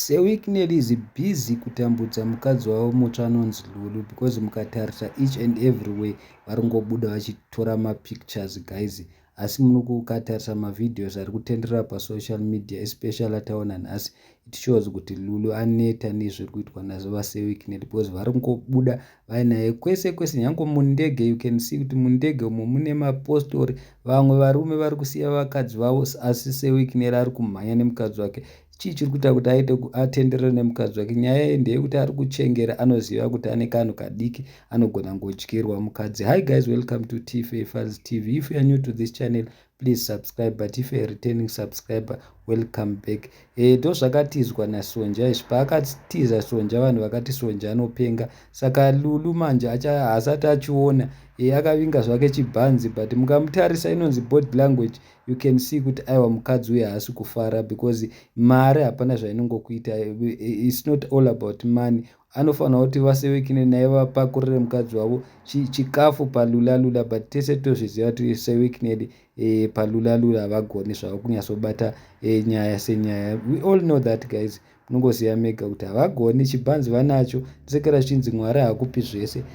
Seweek Nelly is busy kutambudza mukadzi wavo mutsva anonzi Lulu because mukatarisa each and every way vari kungobuda vachitora mapictures guys asi munokukatarisa mavideos ari kutenderera pasocial media especially ataona nhasi it shows kuti Lulu aneta nezviri kuitwa nazo vaSeweek Nelly because vari kungobuda vainaye kwese kwese nyange mundege you can see kuti mundege umo mune mapostori vamwe varume vari kusiya vakadzi vavo asi sewikineri ari kumhanya nemukadzi wake chii chiri kuita kuti aite atenderere nemukadzi wake nyaya ye ndeyekuti ari kuchengera anoziva kuti ane kanhu kadiki anogona ngodyirwa mukadzi hi guys welcome to tfa fans tv if youare new to this channel please subscribe but if a returning subscriber welcome back e, ndozvakatizwa nasonja izvi paakatiza sonja vanhu vakati sonja anopenga saka lulu manje haasati achiona e, akavinga zvake chibhanzi but mukamutarisa inonzi body language you can see kuti aiwa mukadzi uye haasi kufara because mari hapana zvainongokuita e, e, its not all about money Anofanirwa kuti vaSewekine naye vapakurire mukadzi wavo chi, chikafu palulalula but tese tozviziva kuti Sewekinedi eh, palulalula havagoni zvavo kunyatsobata eh, nyaya senyaya. We all know that guys, munongoziva mega kuti havagoni. Chibhanzi vanacho, ndisekera zvichinzi Mwari hakupi zvese.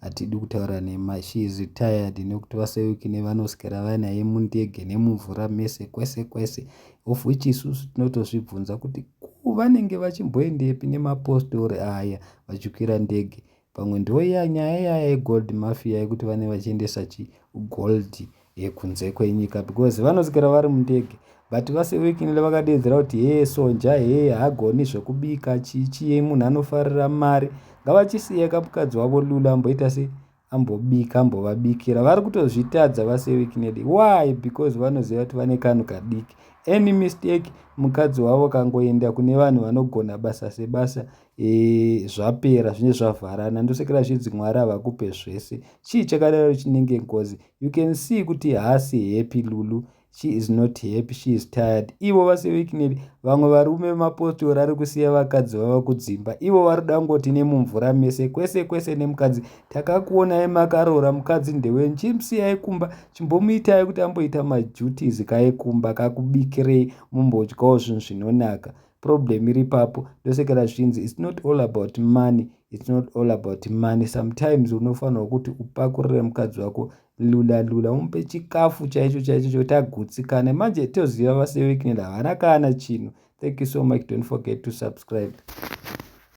Hatidi kutaura nema she is tired nekuti vase week nevanoswera vanaye mundege nemumvura mese kwese kwese of which isusu tinotozvibvunza kuti ko vanenge vachimboendepi nemapostori aya vachikwira ndege pamwe ndoya nyaya yaya yegold mafia yekuti vane vachiendesa chi gold yekunze kwenyika because vanosikira vari mundege but vase weekingly vakadeedzera kuti hee sonja hee hagoni zvekubika chichii munhu anofarira mari ngavachisiye kamukadzi wavo lula amboita se ambobika ambovabikira vari kutozvitadza vase weekingly why because vanoziva kuti vane kanhu kadiki any mistake mukadzi wavo kangoenda kune vanhu vanogona basa sebasa e, zvapera zvinenge zvavharana ndosekera zvidzi mwari havakupe zvese chii chakadaro chinenge ngozi You can see kuti haasi happy Lulu. She is not happy, she is tired. Ivo vase Wicknell, vamwe varume vemapostori ari kusiya vakadzi vava kudzimba. Ivo vari dangoti nemumvura mese, kwese kwese nemukadzi. Takakuonai makaroora mukadzi ndewenyu. Chimusiyai kumba, chimbomuitai kuti amboita maduties kaekumba kakubikirei mumbodyawo zvinhu zvinonaka. problem iri ipapo ndosekera zvichinzi its not all about money its not all about money sometimes unofanirwa kuti upakurire mukadzi wako lula lula umupe chikafu chaicho chaicho chokuti agutsikane manje toziva vasewekinel havana kana chinhu thank you so much don't forget to subscribe